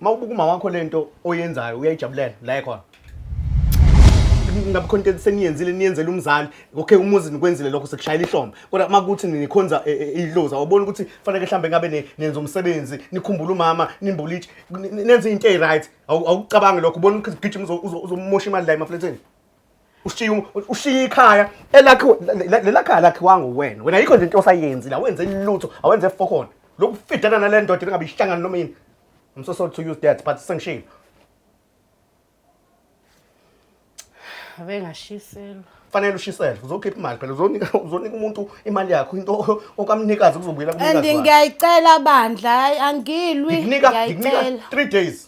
Uma ubuka umama wakho le nto oyenzayo uyayijabulela la ekhona. Ngabe khona into seniyenzile niyenzela umzali. Okay umuzi nikwenzile lokho sekushayela ihlombe. Kodwa uma kuthi nikhonza e- e- idlozi awuboni ukuthi fanele mhlambe ngabe ne- nenza umsebenzi, nikhumbula umama, nimbule itshe, ni- ni- nenze into eziryt. Awucabangi lokho ubona ukuthi gijima uzo- uzo- uzomosha imali la emafletheni. ushiye um- ushiye ikhaya elakhiwe le- le- lelakhaya lakhiwanga uwena wena yikho nje into osayenzi la wenze lutho awenze fokhona lokufidana nale ndoda engabe ihlangana noma yini i'm so sorry to use that but sengishilo Ave ngashiselwa. fanele ushisele uzokhipha imali phela uzonika uzonika umuntu imali yakho into okamnikazi kuzobuyela And kumnikazi wakhe. ngiyayicela bandla, hayi angilwi. ngikunika ngikunika Ngiyayicela. 3 days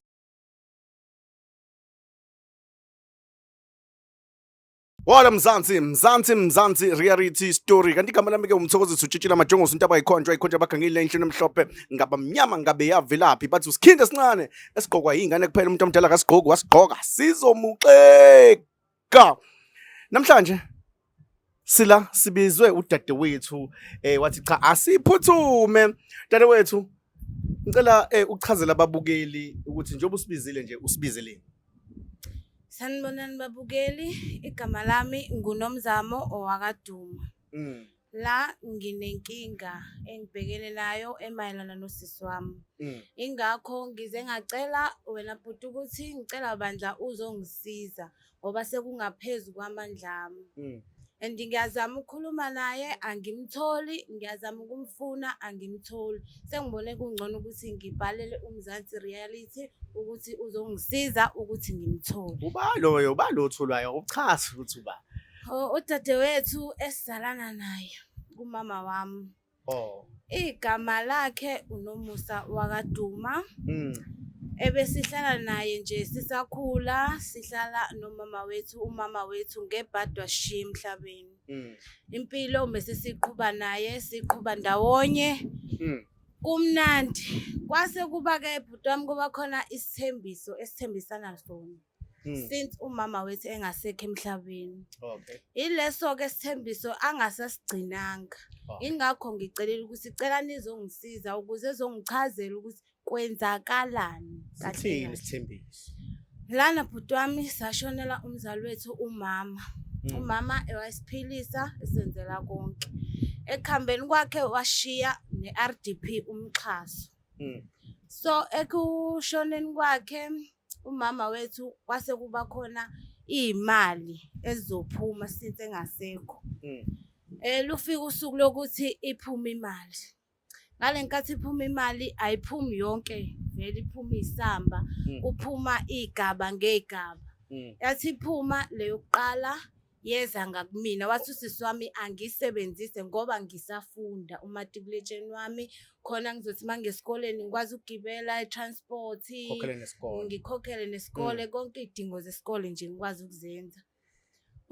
Wala Mzansi, Mzansi, Mzansi, reality story. Kanti igama lami ke umthokozi sutshitshila amajongosi into abayikhonjwa ikhonjwa abagangile enhlini emhlophe ngaba mnyama ngabe yavelaphi bathi usikhinde sincane esigqokwa yingane kuphela umuntu omdala kasigqoki wasigqoka sizomuxeka. Namhlanje Sila sibizwe udadewethu eh wathi cha asiphuthume dadewethu ngicela eh uchazela ababukeli ukuthi njengoba usibizile nje usibizeleni Sanibonani babukeli igama lami nguNomzamo owakaduma mm. la nginenkinga engibhekene nayo emayelana nosisi wami mm. ingakho ngize ngacela wena bhuti ukuthi ngicela bandla uzongisiza ngoba sekungaphezu kwamandla ami mm. and ngiyazama ukukhuluma naye angimtholi ngiyazama ukumfuna angimtholi sengibone kungcono ukuthi ngibhalele umzansi reality ukuthi uzongisiza ukuthi ngimthole uba loyo uba lo otholwayo uchaza ukuthi uba udadewethu esizalana naye kumama wami Oh. Igama lakhe uNomusa wakaDuma. Mm. Ebesihlala naye nje sisakhula sihlala nomama wethu umama wethu ngebhadwa shiya emhlabeni. Mm. Impilo mesisiqhuba naye siqhuba ndawonye. Mm. Kumnandi kwase kuba ke bhuti wami kuba khona isithembiso esithembisana sona. Hmm. since umama wethu engasekho emhlabeni okay ileso-ke sithembiso angasasigcinanga oh. ingakho ngicelela ukuthi cela nizongisiza ukuze ezongichazela ukuthi kwenzakalani sithini isithembiso lana bhuti wami sashonela umzali wethu umama hmm. umama ewasiphilisa esenzela konke ekuhambeni kwakhe washiya ne-r d p umxhaso Mm. so ekushoneni kwakhe umama wethu kwase kuba khona iy'mali ezizophuma since engasekho Mm. Eh lufika usuku lokuthi iphume imali. Ngale nkathi iphuma imali ayiphumi yonke vele iphuma isamba Mm. kuphuma igaba ngegaba. Mm. Yathi iphuma leyokuqala yeza ngakumina wathi usisi wami angisebenzise ngoba ngisafunda umatikuletsheni wami khona ngizothi uma ngesikoleni ngikwazi ukugibela i-transport ngikhokhele nesikole mm. konke iy'dingo zesikole nje ngikwazi ukuzenza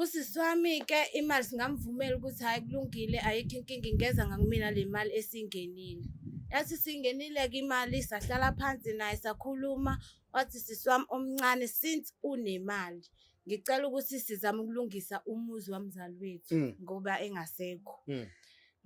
usisi wami-ke imali singamvumela ukuthi hhayi kulungile ayikho inkinga ingeza ngakumina le mali esingenile yathi singenile-ke imali sahlala phansi naye sakhuluma wathi sisi wami omncane since unemali ngicela ukuthi sizame ukulungisa umuzi wamzali wethu Mm. ngoba engasekho Mm.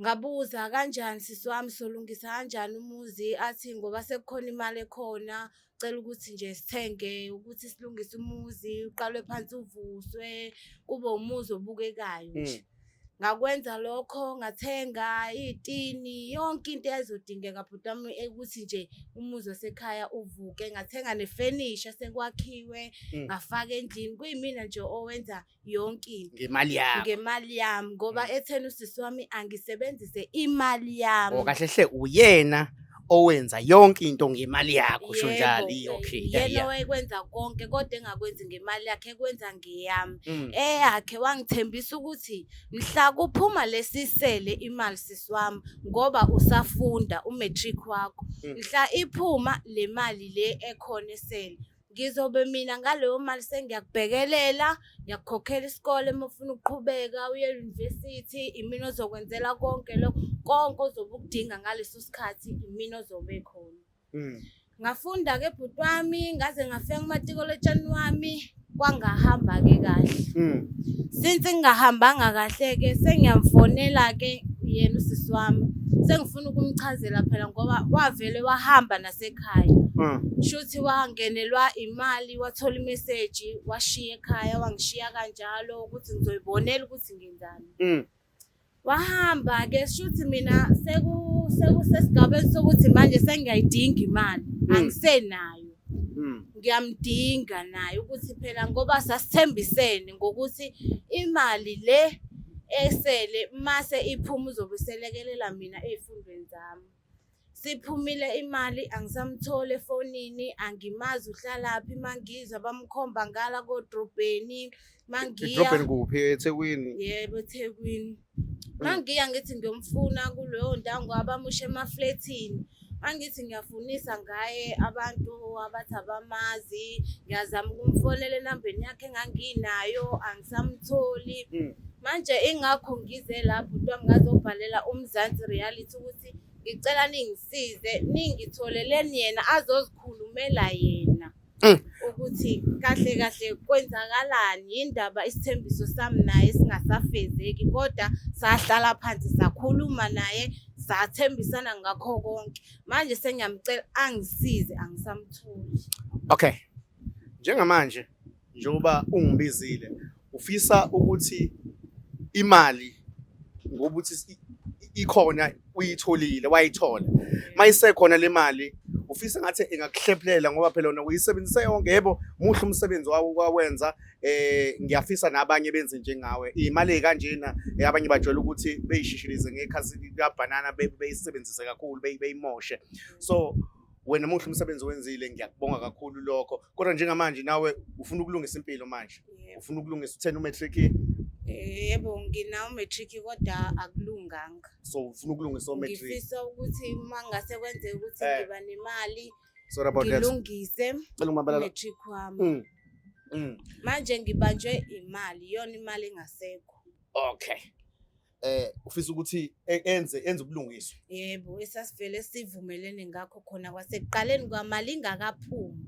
ngabuza kanjani sisi wami solungisa kanjani umuzi athi ngoba sekukhona imali ekhona cela ukuthi nje sithenge ukuthi silungise umuzi uqalwe phansi uvuswe kube umuzi obukekayo nje Mm. Ngakwenza lokho ngathenga iy'tini yonke into eyayizodingeka bhuti wami ukuthi nje umuzi wasekhaya uvuke ngathenga nefenisha sekwakhiwe Mm. ngafaka endlini kuyimina nje owenza yonke into ngemali yakho ngemali yami ngoba ethena usisi wami angisebenzise imali yami Oh, kahle hle uyena owenza yonke into ngemali yakho usho njalo Yebo, okay yeah, yena yeah. wayekwenza konke kodwa engakwenzi ngemali yakhe ekwenza ngeyami Mm. eyakhe wangithembisa ukuthi mhla kuphuma lesisele imali sisi wami ngoba usafunda umatric wakho Mm. mhla iphuma le mali le ekhona esele ngizobe mina ngaleyo mali sengiyakubhekelela ngiyakukhokhela isikole uma ufuna ukuqhubeka uye university imina ozokwenzela konke lokho konke ozobe ukudinga ngaleso sikhathi imina ozobe khona mm. ngafunda ke bhuti wami ngaze ngafika kumatikolotshani wami kwangahamba ke kahle mm. since ngingahambanga kahle ke sengiyamfonela ke yena usisi wami sengifuna ukumchazela phela ngoba wavele wahamba nase ekhaya mm. shuthi wangenelwa imali wathola imeseji washiya ekhaya wangishiya kanjalo ukuthi ngizoyibonela ukuthi ngenzani mm. wahamba ke shuthi mina seku sekusesigabeni sokuthi manje sengiyayidinga imali mm. angisenayo ngiyamdinga naye ukuthi phela ngoba sasithembisene ngokuthi imali le esele mase iphuma uzobuselekelela mina ezifundweni zami Siphumile imali angisamtholi efonini angimazi uhlalaphi mangizwa bamkhomba ngala kodrobheni mangiya idrobheni kuphi ethekwini yebo ethekwini mangiya ngithi ngiyomfuna kuleyo ndawo ngoba bamushe emaflethini angithi ngiyafunisa ngaye abantu abathi abamazi ngiyazama ukumfonela enambeni yakhe enganginayo angisamtholi hmm. manje ingakho ngize lapho kuthiwa ngingazobhalela umzansi reality ukuthi ngicela ningisize ningitholeleni yena azozikhulumela yena mm. ukuthi kahle kahle kwenzakalani yindaba isithembiso sami naye singasafezeki kodwa sahlala phansi sakhuluma naye sathembisana ngakho konke manje sengiyamcela angisize angisamtholi okay njengamanje njengoba ungibizile ufisa ukuthi imali ngoba uthi ikhona uyitholile wayithola mayisekhona le mali ufisa ngathi ingakuhlephelela ngoba phela wena uyisebenzise yonke yebo muhle umsebenzi wawo kwawenza eh ngiyafisa nabanye benze njengawe imali kanjena eh, abanye bajwayele ukuthi beyishishilize ngekhasi likabanana beyisebenzise kakhulu beyimoshe so wena muhle umsebenzi wenzile ngiyakubonga kakhulu lokho kodwa njengamanje nawe ufuna ukulungisa impilo manje ufuna ukulungisa uthena umatric yebo nginawo matric kodwa akulunganga so ufuna ukulungisa umatric ngifisa ukuthi uma ngase kwenzeka ukuthi eh. ngiba nemali sorry about that ngilungise cela umabala matric wami mm. mm. manje ngibanjwe imali yona imali engasekho okay eh ufisa ukuthi e- enze enze ubulungiswa yebo esasivele sivumelene ngakho khona kwasekuqaleni kwamali ingakaphumi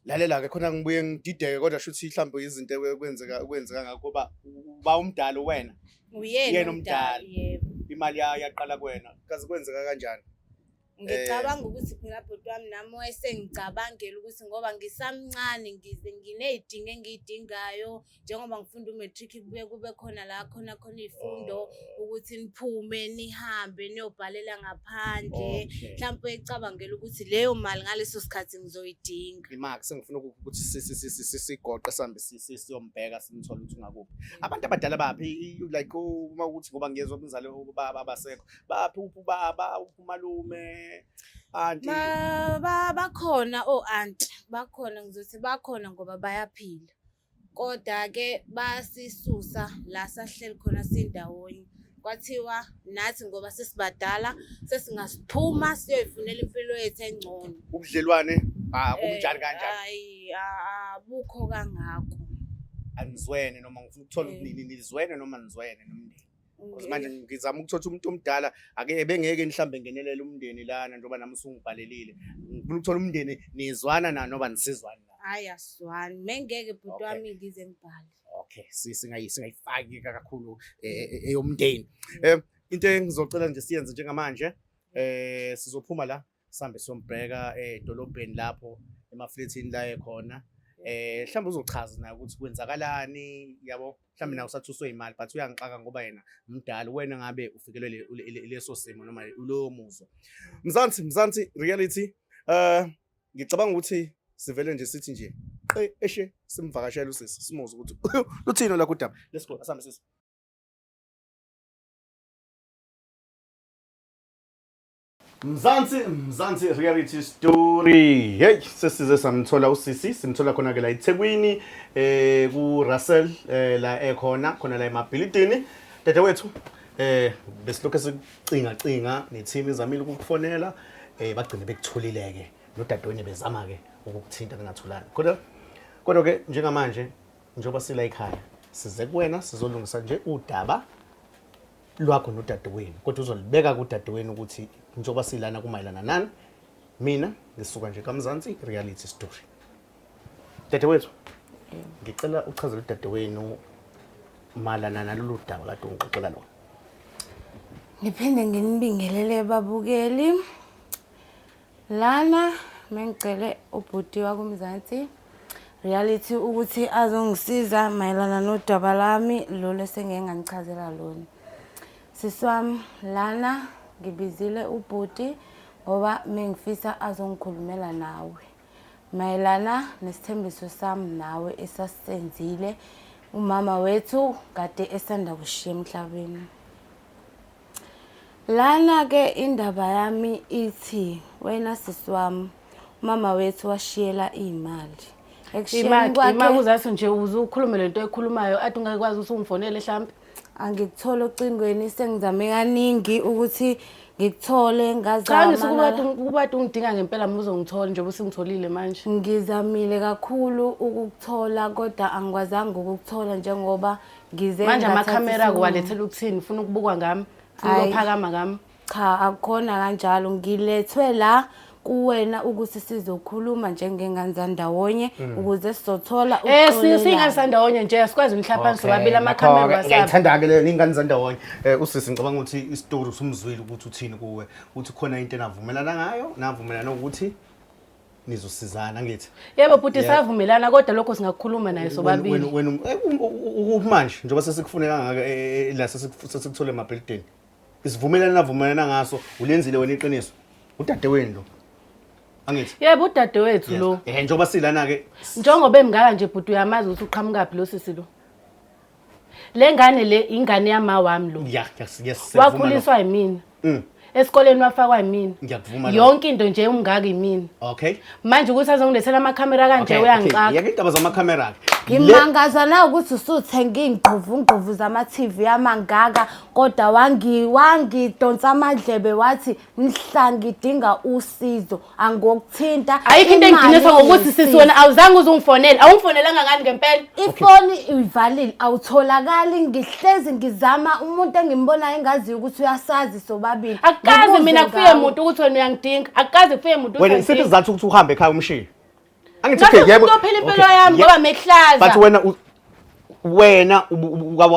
lalela ke khona ngibuye ngidideke kodwa shuthi mhlawumbe izinto ekwe- kwenzeka kwenzeka ngakho kuba uba umdala wena Uyena uyena umdala. umdala yebo imali ya- yaqala kuwena kaze kwenzeka kanjani Ngicabanga eh. ukuthi phela bhuti wami nami wayesengicabangela ukuthi ngoba ngisamncane ngize nginey'dingo engiy'dingayo njengoba ngifunda u-matric kubuye kube khona la khona khona iy'fundo oh. ukuthi niphume nihambe niyobhalela ngaphandle mhlawumpe ecabangela ukuthi leyo mali ngaleso sikhathi ngizoyidinga imak sengifuna ukuthi sigoqe sihambe siyombheka simthole ukuthi ungakuphi abantu abadala baphi like uma ukuthi ngoba ngiyezwa umzali ubaba abasekho baphi uphi ubaba uphi umalume anti bakhona o oh, anti bakhona ngizothi bakhona ngoba bayaphila kodwa ke basisusa la sahleli khona sindawonye kwathiwa nathi ngoba sesibadala sesingasiphuma siyoyifunela impilo yethu engcono ubudlelwane ah, ubunjani eh, kanjani hayi abukho kangako anizwene noma ngifuna ukuthola eh. ubunini nizwene noma nizwene nomndeni Because manje ngizama ukuthola umuntu omdala ake bengeke mhlambe ngenelele umndeni lana njengoba nami usungibhalelile. Ngifuna ukuthola umndeni nizwana na noba nisizwana. Hayi asizwani. Mengeke bhuti Okay. wami ngize ngibhale. Okay, si- singayi singayifaki kakhulu eh, eh, eyomndeni. Eh into engizocela nje siyenze njengamanje eh sizophuma la sambe sombheka edolobheni lapho emaflethini la ekhona eh mhlawumbe uzochaza naye ukuthi kwenzakalani yabo mhlawumbe nawe usathuswe imali but uyangixaka ngoba yena mdala wena ngabe ufikelwe leso simo noma ulowo muzo mzansi mzansi reality eh ngicabanga ukuthi sivele nje sithi nje qe eshe simvakashela usisi simuze ukuthi luthini lakho udaba let's go asambe sisi Mzansi Mzansi reality story. Hey sesize samthola usisi simthola khona ke la eThekwini eh ku Russell eh, la ekhona khona la emabhilidini. Dede wethu eh besilokho sicinga cinga neteam izamile ukukufonela eh bagcine bekutholile ke nodadewenu bezama ke ukukuthinta ningatholani. Kodwa kodwa ke njengamanje njengoba sila ekhaya size kuwena sizolungisa nje udaba lwakho nodadewenu kodwa uzolibeka kudadewenu ukuthi njengoba silana kumayelana nani mina ngisuka nje kamzansi reality story dadewethu ngicela uchazele udadewenu malana nalolu daba kade ungixoxela lona ngiphinde nginibingelele babukeli Lana mengicele ubhuti wakumzansi reality ukuthi azongisiza mayelana nodaba lami lolu esengeke nganichazela lona sisi wami lana ngibizile ubhuti ngoba mengifisa azongikhulumela nawe mayelana nesithembiso sami nawe esasenzile umama wethu kade esanda kushiya emhlabeni Lana ke indaba yami ithi wena sisi wami umama wethu washiyela imali. Ekushiyeni kwakhe imali uzathi nje uzukhulume lento ekhulumayo athi ungakwazi ukuthi ungifonele mhlambi. Angikuthole ocingweni sengizame kaningi ukuthi ngikuthole ngazama. Cha ngisukuthi ukubati ungidinga ngempela mina uzongithola njengoba usingitholile manje. Ngizamile kakhulu ukukuthola kodwa angikwazanga ukukuthola njengoba ngize manje ngathatha amakhamera isinqumo. kuwalethela ukuthini ufuna ukubukwa ngami ufuna Ayi. ukuphakama ngami cha akukhona kanjalo ngilethwe la kuwena ukuthi sizokhuluma njengengane zandawonye ukuze sizothola um Eh, si- singane ukuxolelana. sandawonye nje asikwazi umhlaphansi sobabili amakhamera wasapha ngiyayithanda-ke le ningane zandawonye um usisi ngicabanga ukuthi isitori usumzwile ukuthi uthini kuwe ukuthi khona into enavumelana ngayo navumelana ukuthi nizosizana ngithi yebo bhuti Yeah. savumelana kodwa lokho singakukhuluma naye Wena- sobabili wena- wena um- eh, um- u- u- ukuphi manje njengoba sesikufune kangaka eh, eh, eh, la sesiku- sesikuthole emabhilidini isivumelana navumelana ngaso ulenzile wena iqiniso udade wenu lo angithi yebo udadewethu Yes. lo Eh, njengoba silana-ke njengoba emngaka nje bhuti uyamazi ukuthi uqhamukaphi lo sisi lo Le ngane le ingane yama wami lo. Yeah, yes, yes. Wakhuliswa yimina. Mm. Esikoleni wafakwa yimina. Ngiyakuvuma. Yonke into nje umngaka yimina. Okay. Manje ukuthi azongilethela ama camera kanje uyangixaka. Yeke indaba zama camera ke. Ngimangaza na ukuthi usuthenga ingquvu ngquvu zama TV yamangaka kodwa wangi wangi donsa amadlebe wathi mhla ngidinga usizo angokuthinta ayikho into engidinisa ngokuthi sisi wena awuzange uzungifonele awungifonelanga ngani ngempela ifoni uyivalile awutholakali ngihlezi ngizama umuntu engimbonayo engaziyo ukuthi uyasazi sobabili akukazi mina kufike muntu ukuthi wena uyangidinga akukazi kufike muntu wena isiphi sizathu ukuthi uhambe ekhaya umshiye Angithi okay yebo. Ngizophela impilo yami ngoba mehlaza. But wena wena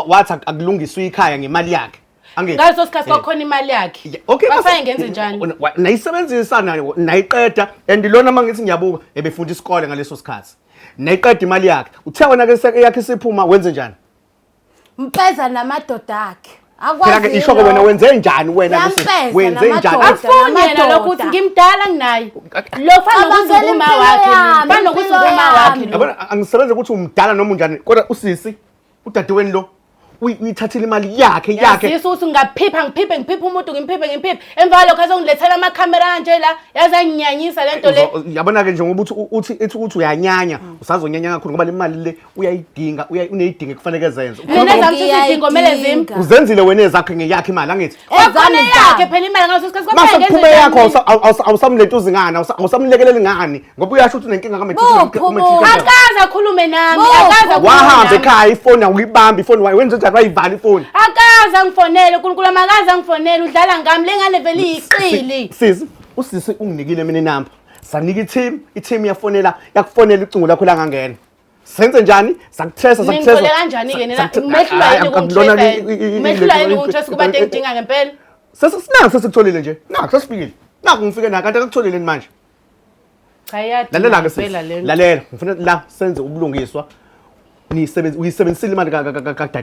wathi akulungiswa ikhaya ngemali yakhe. Angithi. Ngaso sikhathi eh. kwakhona imali yakhe. Okay. Bafaye ngenze njani? Nayisebenzisa nayo nayiqeda and lona mangithi ngiyabuka ebefunda isikole ngaleso sikhathi. Nayiqeda imali yakhe. Uthe wena ke yakhe isiphuma wenze njani? Mpeza namadoda akhe. Phela ke isho ke wena wenze njani wena Lucy? Wenze njani? Afuni yena lokhu ukuthi ngimdala nginaye. Lokhu anokuthi uma wakhe. Banokuthi uma wakhe. Yabona angisebenze ukuthi umdala noma unjani kodwa usisi udadeweni lo uyithathile imali yakhe yakhe yasisi ukuthi ngaphipha ngiphiphe ngiphiphe umuntu ngimphiphe ngimphiphe emva kwalokho azongilethela amakhamera kanje la yaze anginyanyisa le nto le yabona-ke njengoba uthi uthi ithi ukuthi uyanyanya usazonyanya kakhulu ngoba le mali le uyayidinga uya- uneyidinga ekufaneke zenze Mina Ukhona- zami sithi izidingo kumele zim. Ngiyayidinga. uzenzile wena ezakho ngeyakho imali angithi Kwakhona Ezami yakhe zami. phela imali ngaso sikhathi mase kwaphela kuphume yakho ngenze awusa- awusa- awusamlentuzi ngani awusa- awusamlekeleli ngani ngoba uyasho ukuthi unenkinga Buphi umuntu? kamethuka akaze akhulume nami Bo. akaze akhulume wahamba nami. ekhaya ifoni awuyibambi ifoni wayo wenze njani wayivala ifoni akaze angifonele unkulunkulu amakaze angifonele udlala ngami le ngane vele iyiqili sisi usisi unginikile mina inamba sanika i-team i-team yafonela yakufonela icingo lakho langangena senze njani sakuthesa sakuthesa ningicole kanjani ke nina mehlula yini ukungitresa mehlula yini ukungitresa kuba engidinga ngempela sesinaku sesikutholile nje naku sesifikile naku ngifike naku kanti akakutholile ni manje cha yadlalela ke sisi lalela ngifuna la senze ubulungiswa nisebenzisile imali kadade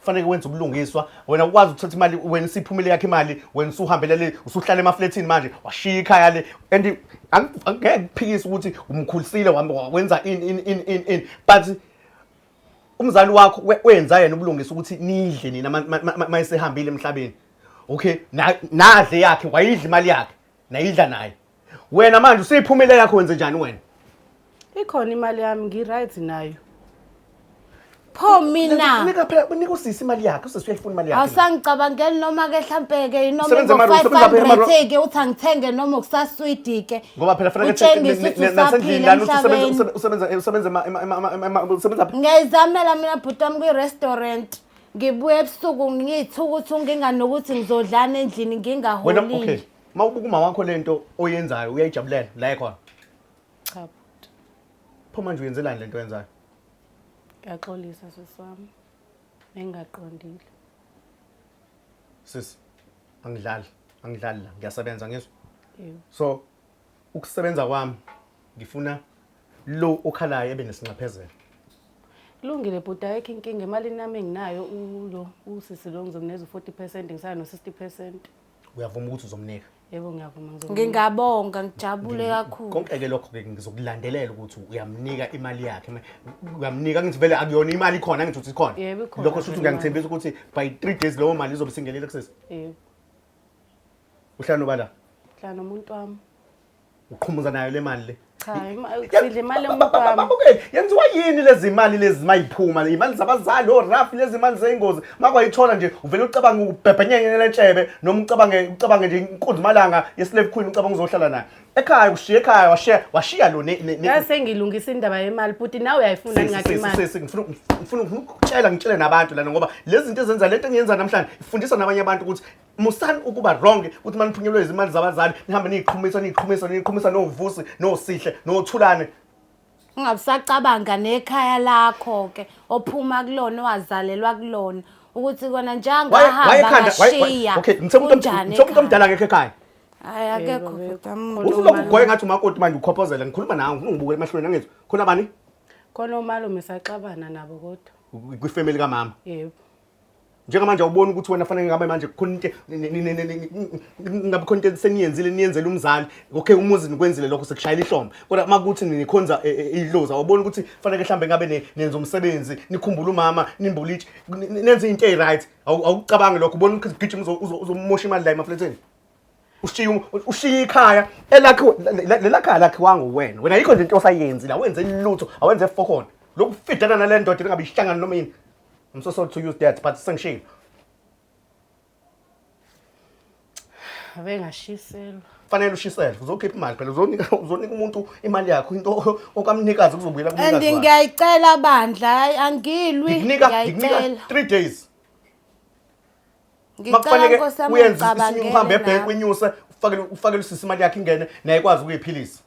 kufanele wenze ubulungiswa wena ukwazi ukuthatha imali wena isiphumile yakhe imali wena usuhambele le usuhlala emaflethini manje washiya ikhaya le and angeke kuphikise ukuthi umkhulisile wenza in in in in in but umzali wakho wenza yena ubulungisa ukuthi nidle nina mayesehambile emhlabeni okay nadle yakhe wayidla imali yakhe nayidla naye wena manje useyiphumele yakho wenze njani wena ikhona imali yami ngi-right nayo pho mina nika phela unika usisi imali yakhe usisi uyayifuna imali yakhe awusangicabangeli noma-ke hlampe-ke inoma Usebenza mara- usebenza phela mara- ngo-500-ke uthi angithenge noma ukusaswidi-ke ngoba phela fanele utshengise ukuthi usaphila emhlabeni usebenza eh, usebenza ema- ema- ema- ema- ema- usebenza phi? ngiyayizamela mina bhuti wami kwi-restaurant ngibuye ebusuku ngiyithuka ukuthi unginganokuthi ngizodlana endlini wena okay ngingaholile Uma ubuka umama wakho lento oyenzayo uyayijabulela la ekhona. Cha bhuti. Pho manje uyenzelani lento oyenzayo? Ngiyaxolisa sisi wami. Engingaqondile. Sisi angidlali, angidlali la. Ngiyasebenza ngizwa. Yebo. So ukusebenza kwami ngifuna lo okhalayo ebe nesinxephezelo. Kulungile bhuti ayikho inkinga emalini nami enginayo ulo usisi lo ngizomneza u-40 percent ngisaya no-60 percent. uyavuma ukuthi uzomnika yebo ngiyavuma ngizomnika ngingabonga ngijabule kakhulu konke-ke lokho-ke ngizokulandelela ukuthi uyamnika imali yakhe Ma- uyamnika ngithi vele akuyona imali ikhona ngithi uthi ikhona Yebo, ikhona. lokho shuthi ngiyangithembisa ukuthi by three days leyo mali izobe singenile kusesi yebo uhlala nobala hlala nomuntu wami uqhumuza nayo le mali le cha sidle imali emkwami yenziwa yini lezi mali lezi mayiphuma imali zabazali oraf lezi mali zeyingozi makwayithola nje uvele ucabanga ukubhebhenyenya lentshebe noma ucabange ucabange nje inkunzi malanga yeslave queen ucabanga uzohlala naye ekhaya ushiya ekhaya washiya washiya lo ngase ngilungisa indaba yemali buti nawe uyayifuna ngathi imali ngifuna ngifuna ukutshela ngitshele nabantu lana ngoba lezi zinto ezenza lento engiyenza namhlanje ifundisa nabanye abantu ukuthi musani ukuba wrong ukuthi maniphunyelwe izimali zabazali nihambe niyiqhumisa niyiqhumisa niyiqhumisa novusi nosihle nothulane ungabusacabanga nekhaya lakho ke ophuma kulona owazalelwa kulona ukuthi kona njengahamba ngashiya okay ngithe umuntu omdala ngekho ekhaya hayi akekho usuloku goye ngathi umakoti manje ukhophozela ngikhuluma nawe ngifuna ngibukele emahlweni angizwa khona bani khona omalume saxabana nabo kodwa kwifamily kamama yebo njengamanje awuboni ukuthi wena fanele ngabe manje kukhona into ngabe khona into seniyenzile niyenzele umzali okay umuzi nikwenzile lokho sekushayela ihlombe kodwa uma kuthi nikhonza e, e, idlozi awuboni ukuthi fanele mhlambe ngabe nenza umsebenzi nikhumbula umama nimbule itshe nenze into eyi-right awukucabangi lokho ubona ukuthi gijima uzomosha imali la emafletheni ushiye ushiye ikhaya elakhiwe lelakhaya lakhiwanga uwena wena yikho nje into osayenzi la wenze lutho awenze fokhona lokufidana nale ndoda engabe ihlangana noma yini I'm so sorry to use that but sengishilo. Ave ngashiselwa. Fanele ushisele uzokhipha imali phela uzonika uzonika umuntu imali yakho into okamnikazi kuzobuyela And kumnikazi. wakhe. ngiyayicela bandla hayi angilwi. Ngikunika ngikunika Ngiyayicela. 3 days. Ngicela Makufanele Nkosi yami uyenze isinye uhambe ungicabangele ebhenki lapho. uyinyuse ufakele ufakele usisi imali yakhe ingene naye ikwazi ukuyiphilisa.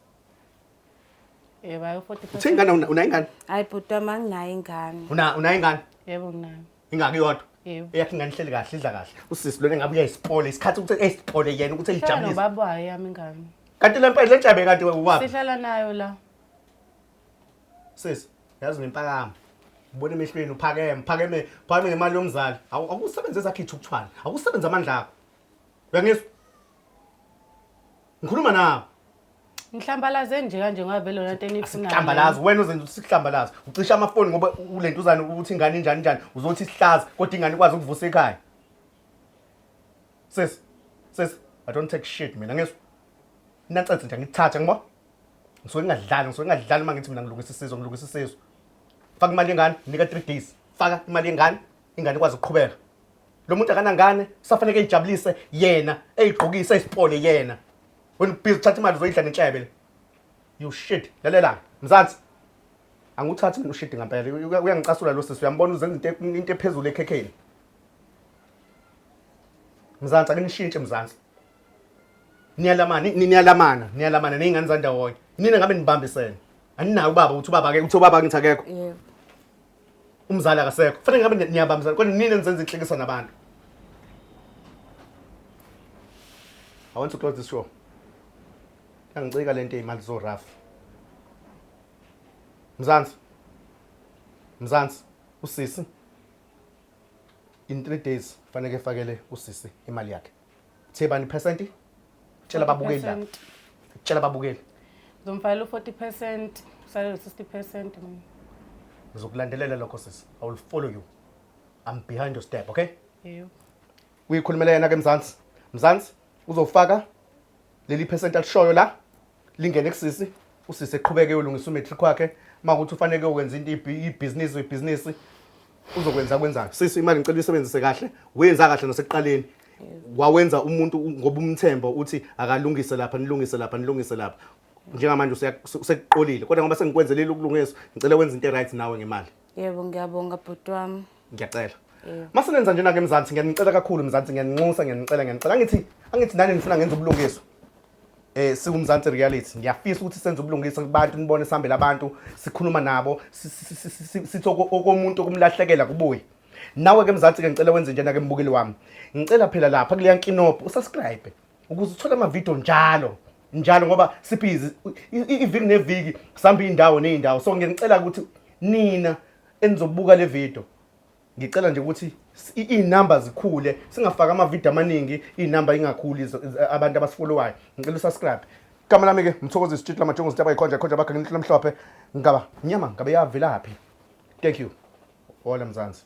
Yebo, ayo 45. Uthe ingane una- unayo ingane? hayi bhuti wami anginayo ingane Una unayo ingane? Yebo nginayo. Ingaki yodwa? Yebo. Eyakhe ingane ihleli kahle, idla kahle. Usisi lona ngabe uyayisipole isikhathi ukuthi eyisipole yena ukuthi Hlala eyijabulise. nobaba wayo yami ingane. Kanti le mpela lenjabe kanti uwapi? Sihlala nayo la. Sisi, yazi nempakama. Ubona emehlweni uphakeme, phakeme, phakeme ngemali yomzali. Awu- Awusebenze ezakhe ithukthwana. Awusebenze amandla akho. Uyangizwa? Ngikhuluma nawe. Ngihlambalaze nje kanje ngoba vele lona nto enifunayo. Sihlambalaze wena uzenza ukuthi sihlambalaze. Ucisha amafoni ngoba ulento uzani ukuthi ingane injani njani uzothi sihlaza kodwa ingane ikwazi ukuvusa ekhaya. Sis. Sis, I don't take shit mina ngisho. Nacathi nje ngithatha ngibo. Ngisuke ngingadlali, ngisuke ngingadlali uma ngithi mina ngilungisa isizwe, ngilungisa isizwe. Faka imali yengane, nika 3 days. Faka imali yengane, ingane ikwazi ukuqhubeka. lo muntu akanangane kusafaneke eyijabulise yena eyigqokise isipole yena wena ubhizi uthatha imali uzoyidla nenhlebe le you shit lalela mzansi anguthathi mina ushidi ngampela Uya- uyangicasula lo sisi uyambona uzenza into e- into ephezulu ekhekheni mzansi akunishintshe mzansi niyalamana ni- niyalamana niyalamana ney'ngane zandawonye nina ngabe nibambisene aninayo ubaba ukuthi ubaba-ke ukuthi ubaba ngithi akekho Yebo. umzali akasekho fanele ngabe ni- niyabambisana kodwa nini enizenza inhlekisa nabantu i want to close this show yangicika le nto eyimali so rough mzansi mzansi usisi in three days faneke efakele usisi imali yakhe Uthe bani percent? Tshela babukeli la. 40%. Tshela babukeli. Ngizomfalela u-40 percent usalele 60 percent mina Ngizokulandelela lokho sisi. I will follow you. I'm behind your step, okay? yebo Uyikhulumela yena ke Mzansi. Mzansi uzofaka leli percent alishoyo la. lingene kusisi usisi eqhubeke uyolungisa umatric wakhe uma kuthi ufaneke ukwenza into ibi- ibhizinisi uyibhizinisi uzokwenza kwenzayo sisi imali ngicela uyisebenzise kahle wenza kahle nasekuqaleni wawenza umuntu u- ngoba umthemba uthi akalungise lapha nilungise lapha nilungise lapha njengamanje useya- se- sekuqolile kodwa ngoba sengikwenzelile ukulungiswa ngicela wenze into e-right nawe ngemali Yebo ngiyabonga bhuti wami. Ngiyacela. Yebo. Mase nenza njena ke Mzansi ngiyanicela kakhulu Mzansi ngiyaninxusa ngiyanicela ngiyanicela angithi angithi nani nifuna ngenza ubulungiswa. Eh siwumzansi reality ngiyafisa ukuthi senze ubulungiswa kubantu nibone sihambele abantu sikhuluma nabo si- si- si- si- si- sithi oko- okomuntu okumlahlekela kubuye. Nawe ke Mzansi ke ngicela wenze njena ke mbukeli wami. Ngicela phela lapha kuleya nkinobho usubscribe. ukuze uthole amavidiyo njalo njalo ngoba sibhizi iviki neviki sihamba iy'ndawo ney'ndawo so ngiyanicela ukuthi nina enizobuka le video ngicela nje ukuthi iy'namba zikhule singafaki amavidiyo amaningi iy'namba ingakhuli abantu abasifolowayo ngicela usubscribe igama lami-ke mthokozi isitshiti lamajongo zitaba ikhonja ikhonja bakhe nginithu lamhlophe ngaba nyama ngabe yavelaphi thank you ola mzansi